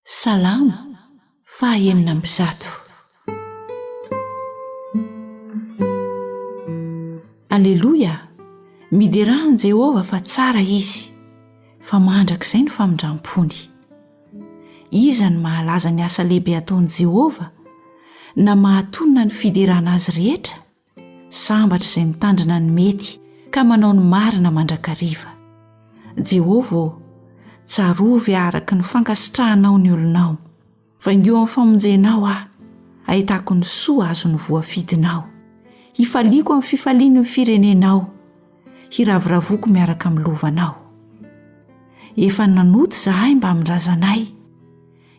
Salamo faha enina amby zato. Aleloia! Miderà an'i Jehovah fa tsara izy, fa mandrakizay ny famindram-pony. Iza no mahalaza ny asa lehibe ataon'i Jehovah, na mahatonina ny fiderana azy rehetra? Sambatra izay mitandrina ny mety ka manao ny marina mandrakariva. Jehovah ô, tsarovy ahy araka ny fankasitrahanao ny olonao. Vaingio amin'ny famonjenao aho, hahitako ny soa azon'ny voafidinao. Hifaliako amin'ny fifaliany ny firenenao, hiravoravoko miaraka amin'ny lovanao. Efa nanota izahay mbamin'ny razanay,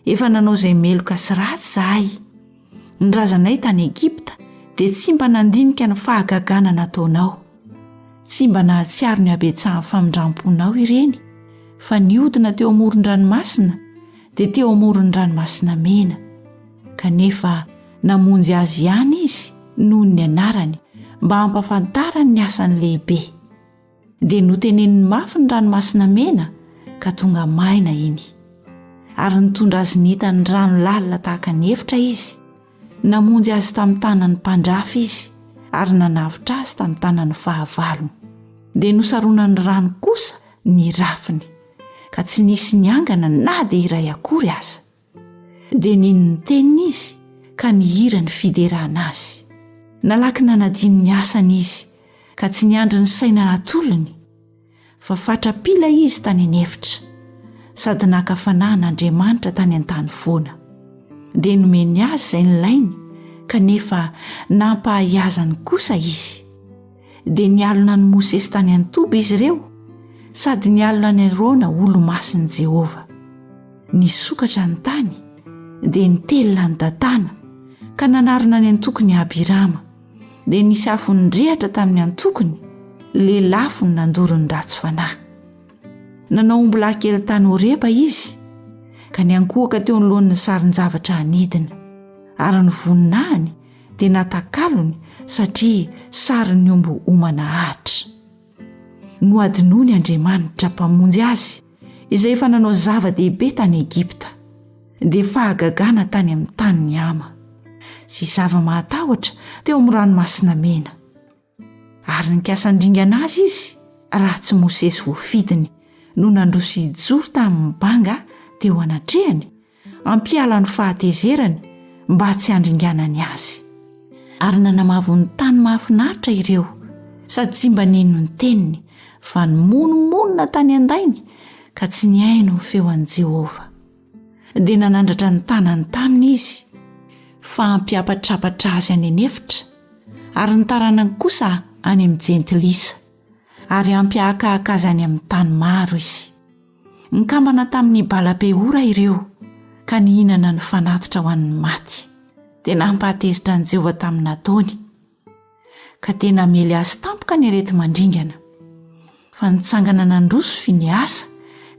Efa nanao izay meloka sy ratsy izahay. Ny razanay tany Egypta dia tsy mba nandinika ny fahagagana nataonao. Tsy mba nahatsiaro ny habetsahan'ny famindram-ponao ireny, fa nihodina teo amoron-dranomasina, dia teo amoron'ny Ranomasina Mena. Kanefa namonjy azy ihany Izy noho ny anarany, mba hampafantarany ny asany lehibe. dia noteneniny mafy ny ranomasina mena ka tonga maina iny ary nitondra azy nita ny rano lalina tahaka ny efitra izy namonjy azy tamin'ny tanan'ny mpandrafy izy ary nanavotra azy tamin'ny tanan'ny fahavalony dia nosaronan'ny rano kosa ny rafiny ka tsy nisy ny angana na dia iray akory aza dia nino ny teniny izy ka nihira ny fiderana azy. Nalaky nanadino ny asany izy ka tsy niandry ny saina natolony, fa fatra-pila izy tany an'efitra, sady naka fanahana Andriamanitra tany an-tany foana. Dia nomeny azy izay nilainy, kanefa nampahahiazany kosa izy. dia nialona an'i Mosesy tany an-toby izy ireo sady nialona an'i Arona olo-masin'i Jehovah. Nisokatra ny tany dia nitelina an'i Datana ka nanarona ny antokony Abirama. Dia nisy afo nirehatra tamin'ny antokony, lelafo ny nandoro ny ratsy fanahy. Nanao ombilahy kely tany Horeba izy ka niankohoka teo anoloan'ny sarin-javatra hanidina ary ny voninahiny dia natakalony satria sarin'ny omby homana ahitra. Nohadinoiny Andriamanitra Mpamonjy azy izay efa nanao zava-dehibe tany Egypta, dia fahagagana tany amin'ny tanin'i Hama, sy zava-mahatahotra teo amin'ny Ranomasina Mena. Ary nikasa handringana azy izy raha tsy Mosesy voafidiny no nandroso hijoro tamin'ny banga teo anatrehany hampiala ny fahatezerany mba tsy handringanany azy. Ary nanamavo ny tany mahafinaritra ireo sady tsy mba nino ny teniny fa nimonomonona tany an-dainy ka tsy nihaino ny feon'i Jehovah. dia nanandratra ny tanany taminy izy fa hampiapatrapatra azy any anefitra ary ny taranany kosa any amin'ny jentilisa ary hampiahakahaka azy any amin'ny tany maro izy nikambana tamin'ny balapeora ireo ka nihinana ny fanatitra ho an'ny maty dia nampahatezitra an'i jehovah tamin'ny nataony ka dia namely azy tampoka ny areti mandringana fa nitsangana nandroso fy ny asa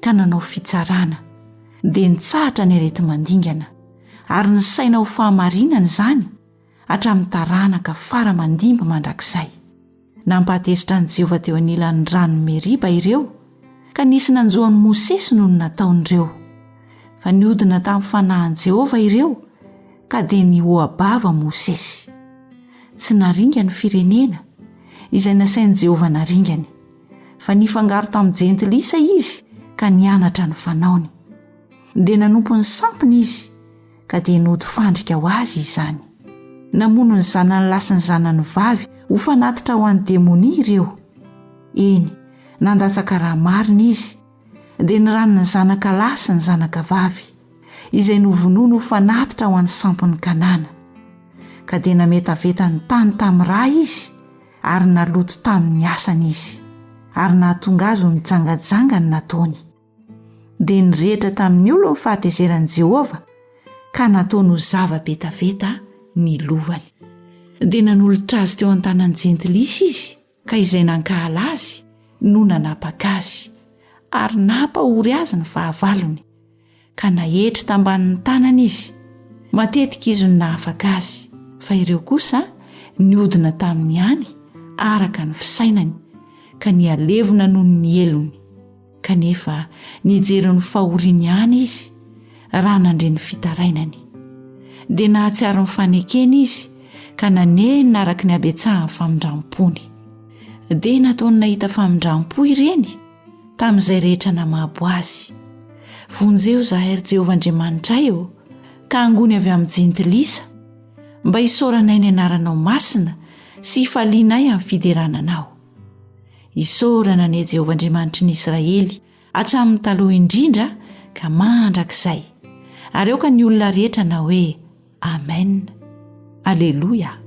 ka nanao fitsarana dia nitsahatra ny areti mandingana ary ny saina ho fahamarinana izany hatramin'ny taranaka fara mandimby mandrakizay nampahatezitra an'i jehovah teo anilan'ny rano meriba ireo ka nisy nanjoan'i mosesy noho ny nataon'ireo fa niodina tamin'ny fanahin'i jehovah ireo Ka dia nihoa-bava Mosesy. Tsy naringa ny firenena, izay nasain'i Jehovah naringany, fa nifangaro tamin'ny Jentilisa izy ka nianatra ny fanaony. Dia nanompo ny sampiny izy, ka dia nody fandrika ho azy izany. Namono ny zanany lahy sy ny zanany vavy ho fanatitra ho an'ny demonia ireo. Eny, nandatsaka raha marina izy, dia ny ran'ny zanaka lahy sy ny zanaka vavy, izay novonoiny ho fanatitra ho an'ny sampon'i Kanana. Ka dia nametaveta ny tany tamin'ny ra izy ary naloto tamin'ny asany izy, ary nahatonga azy ho nijangajanga ny nataony. Dia nirehitra tamin'ny olony ny fahatezeran'i Jehovah, ka nataony ho zava-betaveta ny lovany. Dia nanolotra azy teo an-tanan'ny Jentilisa izy, ka izay nankahala azy no nanapaka azy ary nampahory azy ny fahavalony ka naetry tambanin'ny tanana izy matetika izy no nahafaka azy fa ireo kosa ny odina tamin'ny any araka ny fisainany ka ny alevona noho ny helony Kanefa nijery ny fahoriany ihany izy raha nandre ny fitarainany. Dia nahatsiaro ny fanekeny izy ka nanenina araka ny habetsahan'ny famindram-pony. Dia nataony nahita famindram-po ireny tamin'izay rehetra namabo azy. Vonjeo izahay ry Jehovah Andriamanitray ô, ka angony avy amin'ny jentilisa, mba hisaoranay ny anaranao masina sy hifalianay amin'ny fiderana anao. Isaorana anie Jehovah Andriamanitry ny Israely hatramin'ny taloha indrindra ka mandrakizay. Ary aoka ny olona rehetra na hoe Amen. Aleloia.